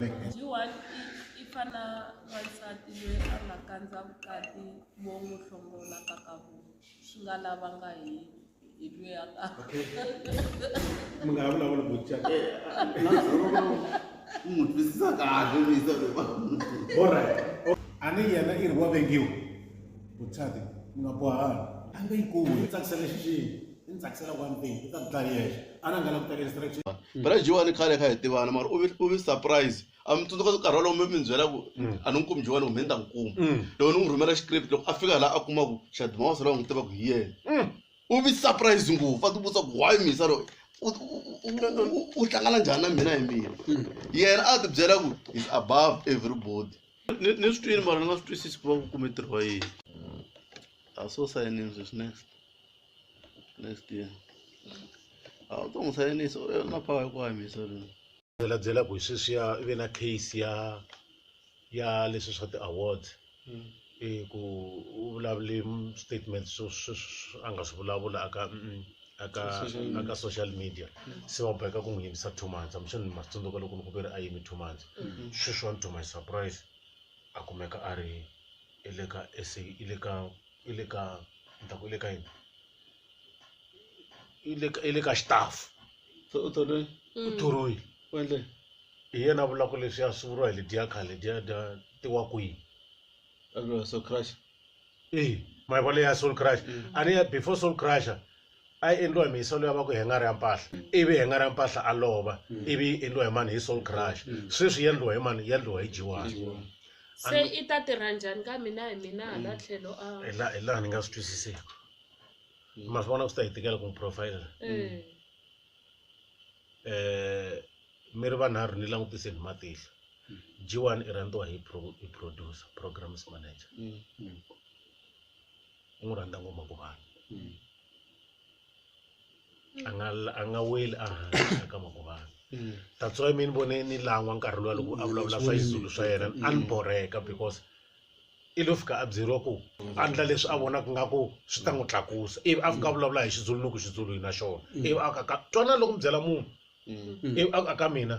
Yiwani i fa na wansati loyi a nga kandza vukati vo n'wi hlongola ka ka vo swi nga lavanga hi hi loyi a ka mi nga ha vulavula botya u n'wi twisisa kahle misa alright a ni yena i ri wa vengiwa bothyati mi nga bohani a nga yi kumi tsakisa lexi xini I ni tsakisela one day u ta dlaya yexe a na nga la ku teka instruction phela jiwani khale kha hi tivana mara u vi u vi surprise a mi tsundzuka nkarhi walowo mi mi byela ku a ni n'wi kumi jiwani kumbe ni ta n'wi kuma loko ni n'wi rhumela script loko a fika laha a kuma ku xadima wa sala wa n'wi tiva ku hi yena u vi surprise ngopfu a tivutisa ku why misa loyi u- u- u- u- u hlangana njhani na mina hi mina yena a ti byela ku is above everybody ni ni swi twini mara ni nga swi twisisi ku va ku kume ntirho wa yini a so sayinini sweswi next next year a wu to n'wi sayinisa u na power ya ku hanyisa rina byela byela ku sweswiya i ve na case ya ya leswi swa ti-awards hmm. i ku u vulavule statement swo a nga swi vulavula aka aka aka social media hmm. se va boheka ku n'wi yimisa two months amixo ni matsundzuka loko ni ku ve ri a yimi two months hmm. sweswiwani to my surprise a kumeka a ri i le ka sa i le ka i le ka ni ta ku i le ka yini i le ka i le ka xitafu se u tone u thoriwile u endle hi yena a vulaka leswi a swi vuriwa hi lediya khale lediya dya ti wa kwihi a vuriwa so crush eyi mayivala ya soul crush a ni ya before soul crusher A yi endliwa hi mihiselo ya va ku hengari ya mpahla ivi hengari ya mpahla a lova ivi yi endliwa hi mani hi soul crush sweswi yi endliwa hi mani yi endliwa hi jiwani se i ta tirha njhani ka mina hi mina hala tlhelo a hi la- hi laha ni nga swi twisisiku ma swi vona swi ta hi tikela ku n'wi profile Eh, eh mi ri vanharhu ni langutiseni hi matihlo jiwani i rhandziwa hi pro- hi producer programs manager u n'wi rhandza ngoma ku vanhu a nga a nga weli a hansi eka makuvana that's why mi ni vone ni lan'wa nkarhi luwa loko a vulavula swa xizulu swa yena a ni boreka because i lo fika a byeriwa ku andla leswi a vonaka nga ku swi ta n'wi tlakusa ivi a fika a vulavula hi xizulu ni ku xizulu hi na xona ivi a ka ka twana loko mi byela munhu ivi a ka mina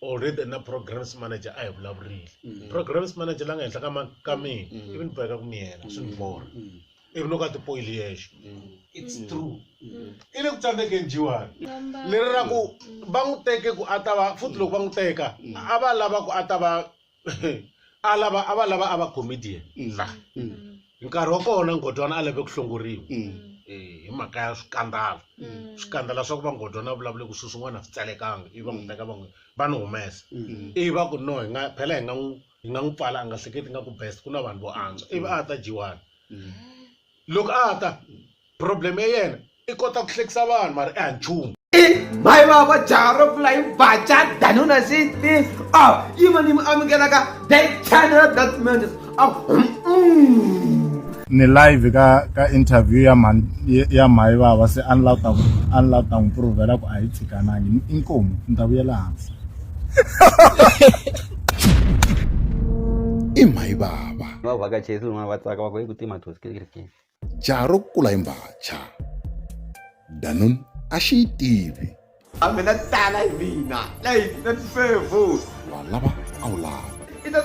already na programs manager a hi vulavurile Mm. programs manager la nga henhla ka ma- ka mina Mm. ivi ni boheka ku mi yena swi ni borha Mm. ivi loko a tipoyili yexe Mm. it's true Mm. i le ku tsandzekeni jiwani Number. leri ra ku va n'wi teke ku a ta va futhi loko va n'wi teka a va lava ku a ta va a lava a va lava a va comedian la hi nkarhi wa kona ngodwana a lave ku hlongoriwa Eh, hi mhaka ya swikandala swikandala swa ku va ngodwana a vulavule ku swilo swin'wana a swi tsalekanga ivi va n'wi teka va n'wi va n'wi humesa ivi va ku no hi nga phela hi nga n'wi hi nga n'wi pfala a nga hleketi nga ku best ku na vanhu vo antswa ivi a ta dyiwani Loko a ta problem ya yena i kota ku hlekisa vanhu mara i ha nchumu mhayi vava jaha ro pfula yi baca danuna siti a yima ni mi amukelaka the channel that means ni live ka ka interview ya mhani ya mhayi vava se a ni la ta a ni la ta n'wi provela ku a yi tshikanangi inkomu ni ta vuyela hansi i mhayi vava va vhakachesi van'wana va tsaka va ku hi ku tima Pues, ¿qué crees que? jaha ro kula hi mbhacha danun a xi yi tivi a mina tala hi mina leyi na tifevo wa lava a wu lava i ta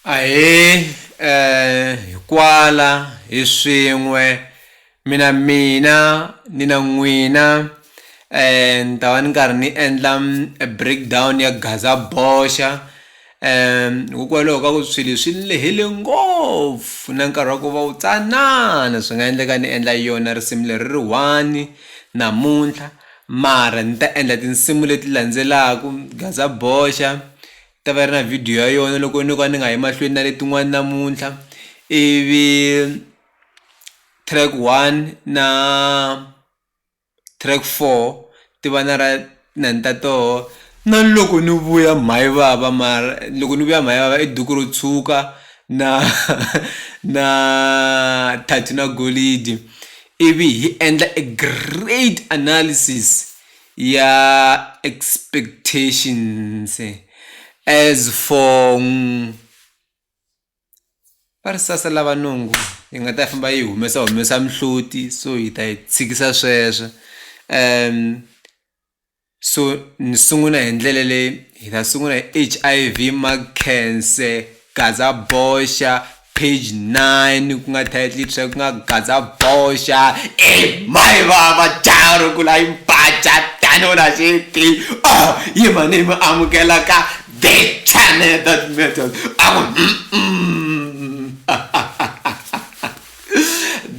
Ahee eh hi kwala hi swin'we mina mina ni na n'wina eh ni ta va ni karhi ni endla a break down ya gazaboxa hikokwalaho ka ku swilo swi lehile ngopfu na nkarhi wa ku va wu tsanana swi nga endleka ni endla yona risimu leri ri one namuntlha mara ni ta endla tinsimu leti landzelaku gazaboxa. Ta va yi ri na video ya yona loko no ka ni nga yi mahlweni na letin'wani namuntlha ivi track one na track four ti va na ra na ni ta toho na loko ni vuya mhani vava mara loko ni vuya mhani vava i duku ro tshuka na na Thato na Golidi ivi hi endla e great analysis ya expectations as for va ri sasa lava nungu yi nga ta famba yi humesa humesa mihloti so hi ta yi tshikisa sweswo um so ni sungula hi ndlela leyi hi ta sungula hi H_I_V ma cancer Gaza boxa page 9 ku nga title yi ku nga gaza boxa e mai vava jaha ro kula yi mpaca tano na xiti o oh, yi mani mi amukela ka the channel that matters aku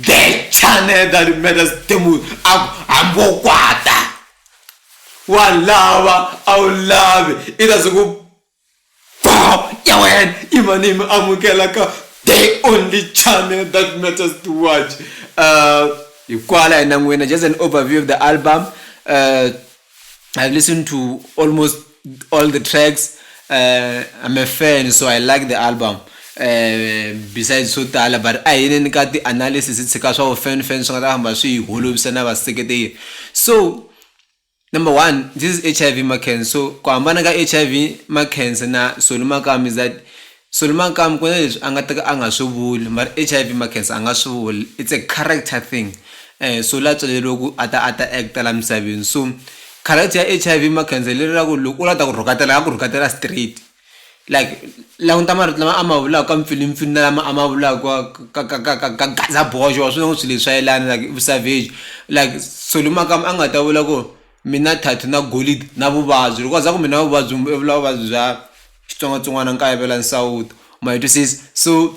the channel that matters temu aku hambi wo kwata wa lava a wu lavi i ta siku Bow your head imanimi amukela ka the only channel that matters to watch uh, hikwala hina n'wina just an overview of the album uh, i've listened to almost all the tracks uh, i'm a fan so i like the album uh, besides swo tala but a hi neni ka ti-analysis hi tshika swa vo fan fan swi nga ta famba swi hi holovisa na vaseketeri so Number one, this is HIV ma cancer so ku hambana ka HIV ma cancer na solumakam is that solumakam ku na leswi a nga ta ka a nga swi vuli mara HIV ma cancer a nga swi vuli it's a character thing so la tswaleriwe ku a ta a ta act-a la misaveni so character ya HIV ma cancer hi leri ra ku loko u la ta ku rhukatela a nga ku rhukatela straight like languta marito lama a ma vulaka mpfilimpfilu na lama a ma vulaka ka ka ka ka ka gaza boxe wa swi vona ku swilo leswi a yelana like i vu-savage like swilo makama a nga ta vula ku mina thathu na golidi na vuvabyi loko a za ku mina vuvabyi i vula vuvabyi bya xitsongwatsongwana nkayivela nsawuto ma yi twisisa so.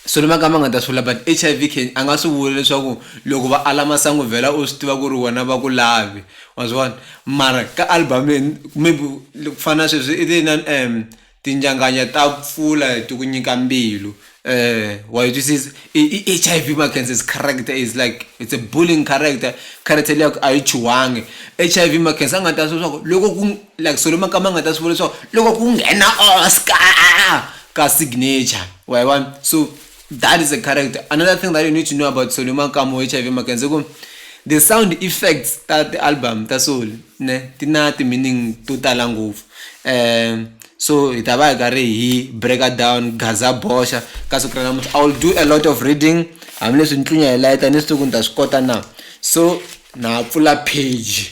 swi ri makama nga ta swi vula but hiv can a nga swi vula leswaku loko va ala masangu vhela u swi tiva ku ri wena va ku lavi wa swi vona mara ka album maybe ku fana na sweswi i ri na um tinjanganya ta pfula ti ku nyika mbilu um wa yi twisisa i i h i v makenses character is like it's a bullying character character liya a yi chuhangi h i v makense a nga ta swi leswaku loko ku Like so lama ka ma nga ta swi vula leswaku loko ku nghena Oscar ka signature wa yi vona so that is a character another thing that you need to know about solo makamu h i v makenze ku the sound effects ta ti-album ta solo ne ti na ti-meaning to tala ngopfu um so hi ta va hi karhi hi breaker down gaza boxa ka siku ra namuntlha i will do a lot of reading hambileswi ni tlunya hi layita ni swi tivi ku ni ta swi kota na so na pfula page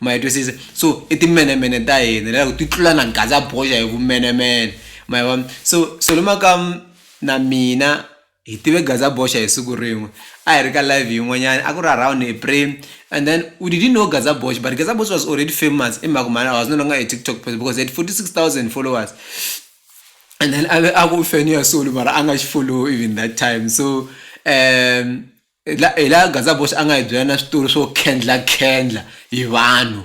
ma yi twisisa so i timenemene ta hina lero ti tlula na gaza boxa hi vumenemene ma yi vona so so le makamu na mina hi tive gaza boxa hi siku rin'we a hi ri ka live yin'wanyana a ku ri around April and then we didn't know gaza boxa but gaza boxa was already famous i mhaka mhani I was no longer a TikTok person because he had 46000 followers and then a ve a ku fan ya solo mara a nga xi follow even that time so um. Hi la hi laha Gazaboss a nga hi byela na switori swo khendlakhendla hi vanhu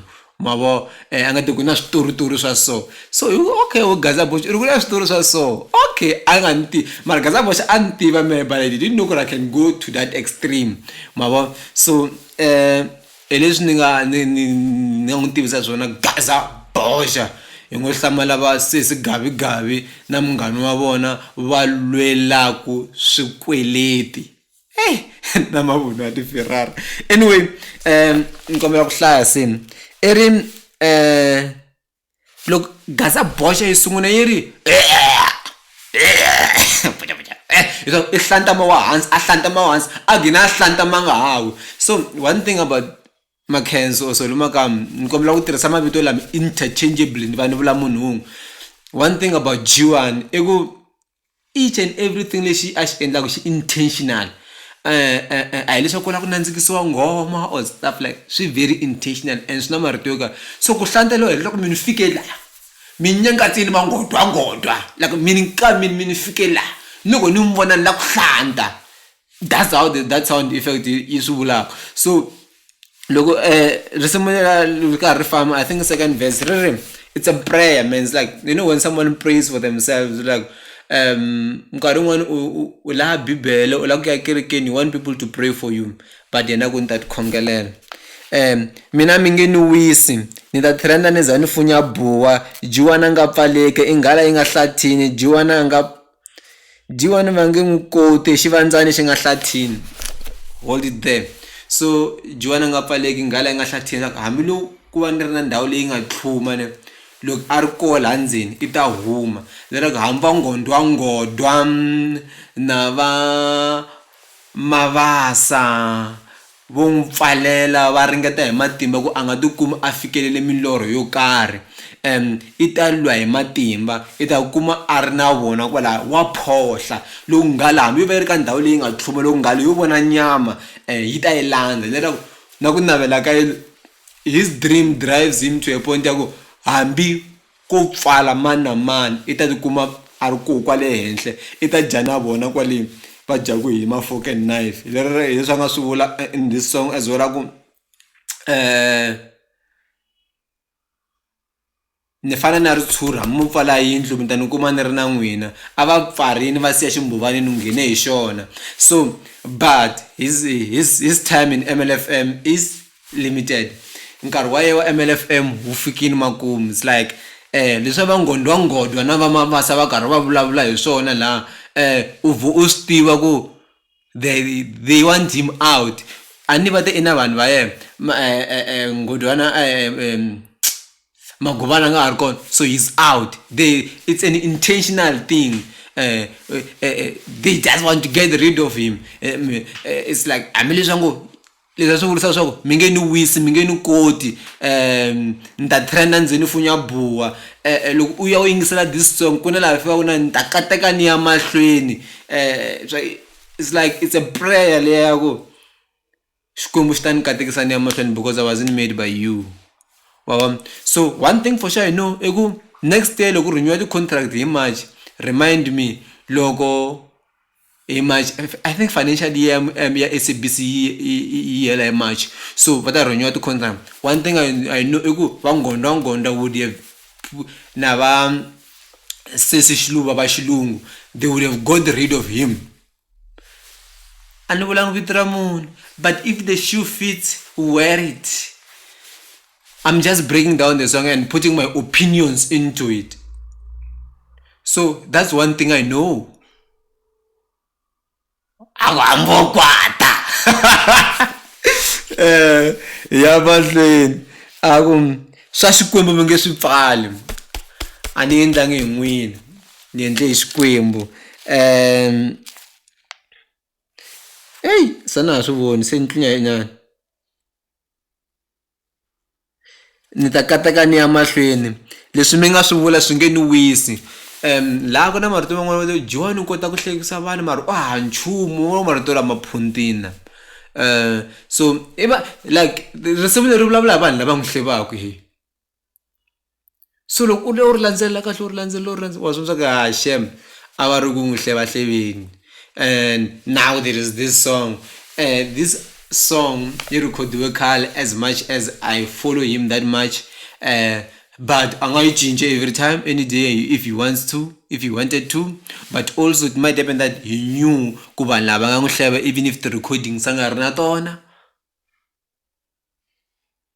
ma vo a nga ti ku na switoritori swa so so hi ku okay wo Gazaboss i ri ku na switori swa so okay a nga ni tivi mara Gazaboss a ni tiva mehe but I didn't know ku ri I can go to that extreme ma vo so hi leswi ni nga ni ni ni nga n'wi tivisa swona Gazaboss hi ngo hlamala va sesi Gavigavi na munghana wa vona va lwelaku swikweleti. hey na mavunwa ya tiferrari anyway um ni kombela ku hlaya sini i ri um eh, loko gaza boxa yi sungula yi ri i hlantama wa hansi a hlantama wa hansi a gina a hlantama nga hawi so one thing about makhenso or solomakam ni kombela ku tirhisa mavito lama interchangeably ni va ni vula munhu wun'we one thing about jiwani i ku each and everything lexi a xi endlaku xi intentional a hi leswaku u lava ku nandzikisiwa nghoma or stuff like swi very intentional and swi na marito yo karhi so ku hlanta loyi hileswaku mi ni fike laha mi nyangatsini mangodwangodwa like mi ni ka mi ni mi ni fike laha ni ku ni mi vona ni lava ku hlanta that's how the, that sound effect yi swi vulaka so loko eh risimu lela ri karhi ri famba i think second verse ri ri it's a prayer man it's like you know when someone prays for themselves like um nkarhi wun'wani u laha bibele u lava ku ya kerekeni you want people to pray for you but yena ku ni ta tikhongelela um mina mi nge ni wisi ni ta trenda ni za ni funya buwa jiwana nga pfaleke i nghala yi nga hlathini jiwana nga Dyiwani va nge n'wi koti hi xivandzani xi nga hlathini hold it there so Dyiwani a nga pfaleki nghala yi nga hlathini swa ku hambi lo ku va ni ri na ndhawu leyi nga tlhuma ni loko a ri ko la ndzeni i ta huma leraku hambi va nghondwangondwa na va Mabasa. Vo n'wi pfalela, va ringeta hi matimba ku a nga tikumi a fikelele milorho yo karhi. Em, i ta lwa hi matimba, i ta ku kuma a ri na vona kwalaho, wa phohla. Loko nghala hambi yo va yi ri ka ndhawu leyi nga tlhuma, loko nghala yo vona nyama, e, yi ta yi landza. Leswaku na ku navela ka his dream drives him to a point ya ku hambi. Ko pfala mani na mani i ta tikuma a ri koho kwale henhla i ta dya na vona kwale va dyaku hi ma fork and knife hi leswi a nga swi vula in this song as well a ku ni fana na ritshuri hambi mo pfala yindlu mi ta ni kuma ni ri na n'wina a va pfarini va siya ximbhovani ni nghene hi xona so but his his his time in M_L_F_M is Limited nkarhi wa yehe wa MLFM wu fikini makumu it's like eh leswa va Ngondwa Ngondwa na va Mabasa va karhi va vulavula hi swona la eh u vhe u swi tiva ku they they want him out a ni va te i na vanhu va yena ma eh eh eh Ngondwana eh Maguvana a nga ha ri kona so he's out they it's an intentional thing eh eh they just want to get rid of him it's like hambileswi va ngo. Leswi a swi vurisa swa ku mi nge ni wisi mi nge ni koti um ni ta trenda ndzi ni funya buwa um loko u ya u yingisela this song ku na laha fikaku na ni ta kateka ni ya mahlweni um swa it's like it's a prayer leya ya ku Xikwembu xi ta ni katekisa ni ya mahlweni because I wasn't made by you wa vona so one thing for sure I know i ku next year loko ku rhinyiwa ti-contract hi March remind me loko. hi march i think financial year ya S_A_B_C yi yi yi yi hela hi march so va ta rheniwa ti-contract one thing I I know i ku va nggondza nggondza wo dyi na va sesi xiluva va xilungu they would have got rid of him a ni vulanga vito ra munhu but if the shoe fits wear it I'm just breaking down the song and putting my opinions into it so that's one thing I know. angokwata eh ya mahlweni a ku swa xikwembu mi nge swi pfali a ni endlangi hi n'wini ni endle hi xikwembu um eyi se na ha swi voni se ni tlunya nyana ni ta kateka ni ya mahlweni leswi mi nga swi vula swi nge ni wisi um laha ku na marito man'wana va john u kota ku hlekisa vanhu mara u ha nchumu wo marito lama phuntina um so i va like risimu leri vulavula hi vanhu lava n'wi hlevaku hi so loko u lo ri landzelela kahle u ri landzelela u ri landzelela wa swi vona swa ku ha shem a va ri ku n'wi hlevahleveni and now there is this song and this song yi record-iwe khale as much as i follow him that much um but a nga yi cince every time any day if he wants to if he wanted to but also it might happen that he knew ku vanhu lava nga n'wi hleva even if ti-recordings a nga ri na tona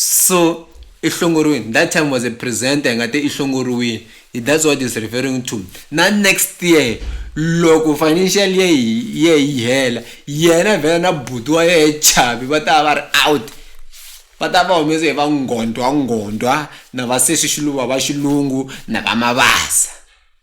So i hlongoriwini. That time was a presenter hi nga te i hlongoriwini. That's what is referring to. Na next year loko financial year ye yi hela yena vhela na buti wa yena chavi va ta va ri out va ta va humese hi va ngondwa ngondwa na va sesi xiluva va xilungu na va mavasa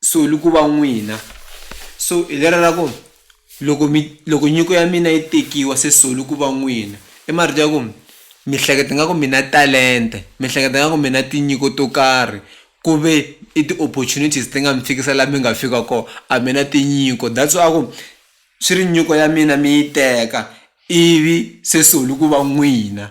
so li ku va n'wina so hi lera ra ku loko mi loko nyiko ya mina yi tekiwa se so li ku va n'wina i marito ya ku mi hleketa nga ku mina talente mi hleketa nga ku mina tinyiko to karhi ku ve i ti-opportunities ti nga mi fikisa laha mi nga fika kona a mina tinyiko that's why a ku swi ri nyiko ya mina mi yi teka ivi se so li ku va n'wina.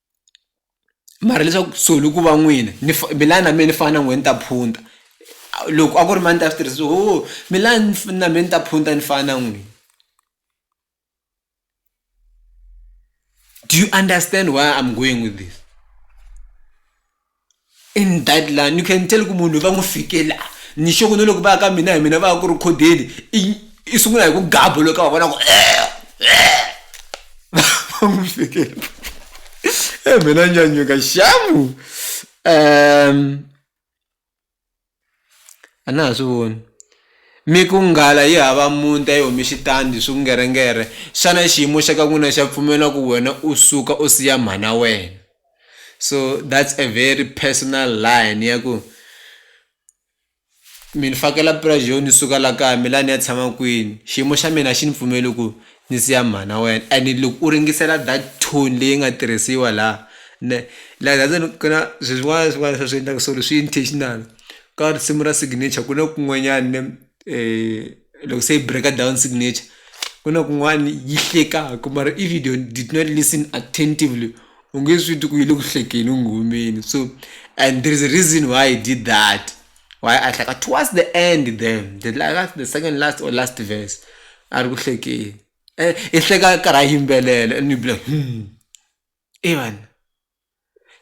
mara leswaku kusuhi ku va n'wina ni milani na mina ni fana na n'wina ni ta phunta loko a ku ri mani ta swi tirhisa ho milani na mina ni ta phunta ni fana na n'wina do you understand why I'm going with this. In that line you can tell ku munhu va n'wi fike la ni xoko ni loko va ya ka mina hi mina va ya ku rhikhodeni i i sungula hi ku gabo loko ka va vona ku eh, eh. va n'wi fikela e eh, mina nyanyuka xamu um a na ha swi voni mi ku nghala yi hava muti a yi humi xitandi swingerengerhe xana xiyimo xa ka n'wina xa pfumela ku wena u suka u siya mhana wena so that's a very personal line ya ku mi ni fakela pirazi yo ni suka la kaya mi la ni ya tshama kwini xiyimo xa mina a xi ni pfumeli ku Ni siya mhana wena and loko u ringisela that tune leyi nga tirhisiwa la ne la that's why ku na swi swin'wana na swin'wana leswi va swi endlaka so leswi intentional ka risimu ra signature ku na kun'wanyani ne loko se yi break-a down signature ku na kun'wani yi hlekaku mara if you don't did not listen attentively u nge swi twi ku yi le ku hlekeni u nghumeni so and there is a reason why he did that. why a hleka towards the end then the last the second last or last verse a ri ku hlekeni eh, i hleka karhi a yimbelela and you be like hmm evan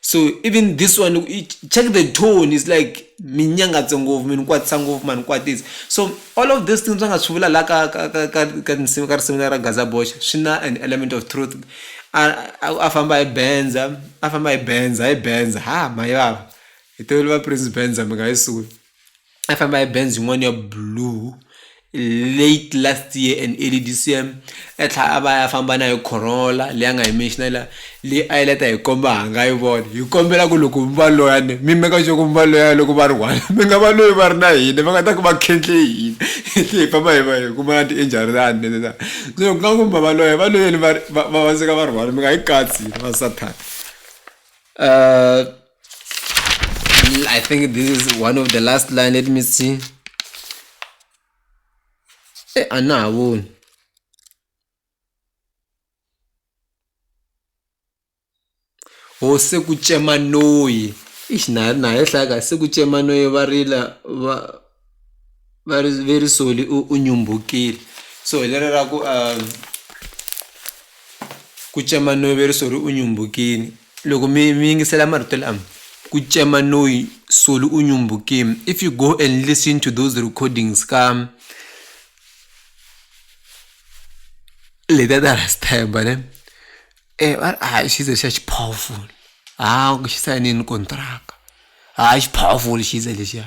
so even this one check the tone is like minyangatse ngopfu mi ni kwatisa ngopfu ma ni kwatisa so all of these things va nga swi vula la ka ka ka ka ka tinsimu ka risimu ra gaza boxa swi na an element of truth a famba hi benza a famba hi benza hi benza ha mayi vava hi tivele va prince benza mi nga yi suki a famba hi benz yin'wana ya blue late last year and early this year a tlhela a va ya famba na hi corolla leyi a nga yi menxina la leyi a yi leta hi komba ha nga yi vona hi kombela ku loko mi va loyani mi meka sure ku mi va loya loko va ri one mi nga va loyi va ri na hina va nga ta ku va khendle hina hi tlhe hi famba hi va hi kuma na ti-injuryani leswa so ku nga ku mi va loya va loyeni va va va va suka va ri one mi nga yi katsi hina va sathana um I think this is one of the last line let me see Eh, a na ha voni hose ku cema noyi ixi na na ehlaya ka se ku cema noyi va rila va va ri ve ri soli u u nyumbukile so hi leri ra ku ku cema no ve ri soli u nyumbukile loko mi mi yingisela marito lama ku cema no yi soli u nyumbukile if you go and listen to those recordings ka letiya ta rasta yambo ne. Eh vari hayi xize xa xi powerful haa ku xi sayinini kontiraka haa xi powerful xize lexiya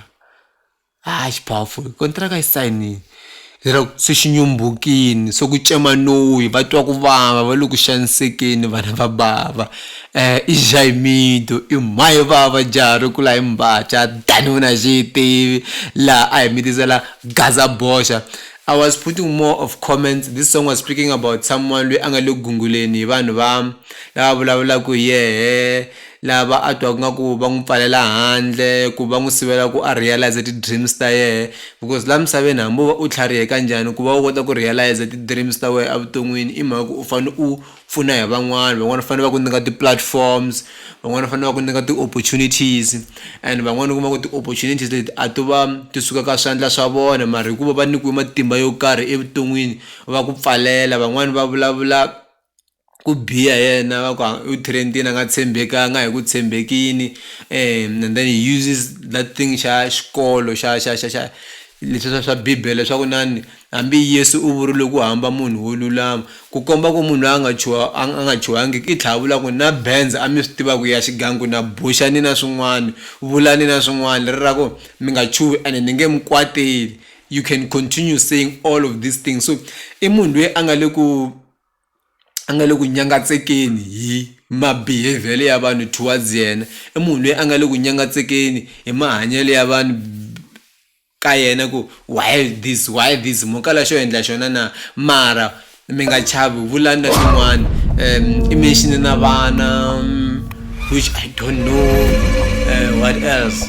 haa xi powerful kontiraka yi sayinini, lero se xi nyumbukile se ku cema noyi va twa ku vava va le ku xanisekeni vana va bava i jamido i mhahe vava jaha ri kula hi mbatya danuna a xi yi tivi laha a hi mi tisela gaza boxa I was putting more of comments, this song was speaking about someone lweyi a nga le ku gunguleni hi vanhu va lava vulavulaka hi yehe, lava a twaka nga ku va n'wi pfalela handle, ku va n'wi sivela ku a realiser ti dreams ta yehe, because la misaveni hambi wo va u tlhariheka njhani ku va u kota ku realiser ti dreams ta wehe evuton'wini i mhaka ku u fane u pfuna hi van'wana van'wana fanele va ku nyika ti-platforms van'wana fanele va ku nyika ti-opportunities and van'wana u kuma ku ti-opportunities leti a to va ti suka ka swandla swa vona mara hikuva va nyikiwe matimba yo karhi evuton'wini va ku pfalela van'wani va vulavula ku biha hi yena va ku u trend-ini a nga tshembekanga hi ku tshembekini and then he uses that thing xa xikolo xa xa xa xa leswiya swa bibele swa ku na ni. Hambi Yesu u vurile ku hamba munhu wo lulama, ku komba ku munhu loyi a nga chuha, a nga chuhangiki i tlhavula ku, Na bendza a mi swi tiva ku ya xigangu, na buxa ni na swin'wana, vula ni na swin'wana, leri ra ku, Mi nga chuhi ene ni nge mi kwateli, you can continue saying all of these things. So i munhu loyi a nga le ku a nga le ku nyangatsekeni hi ma-behaviour-le ya vanhu towards yena, i munhu loyi a nga le ku nyangatsekeni hi mahanyelo ya vanhu. ka yena ku, Why this? Why this? Mo kala xo endla xona na? Mara mi nga chavi, vulani na swin'wana. Um, i mention na vana, um, which I don't know, uh, what else?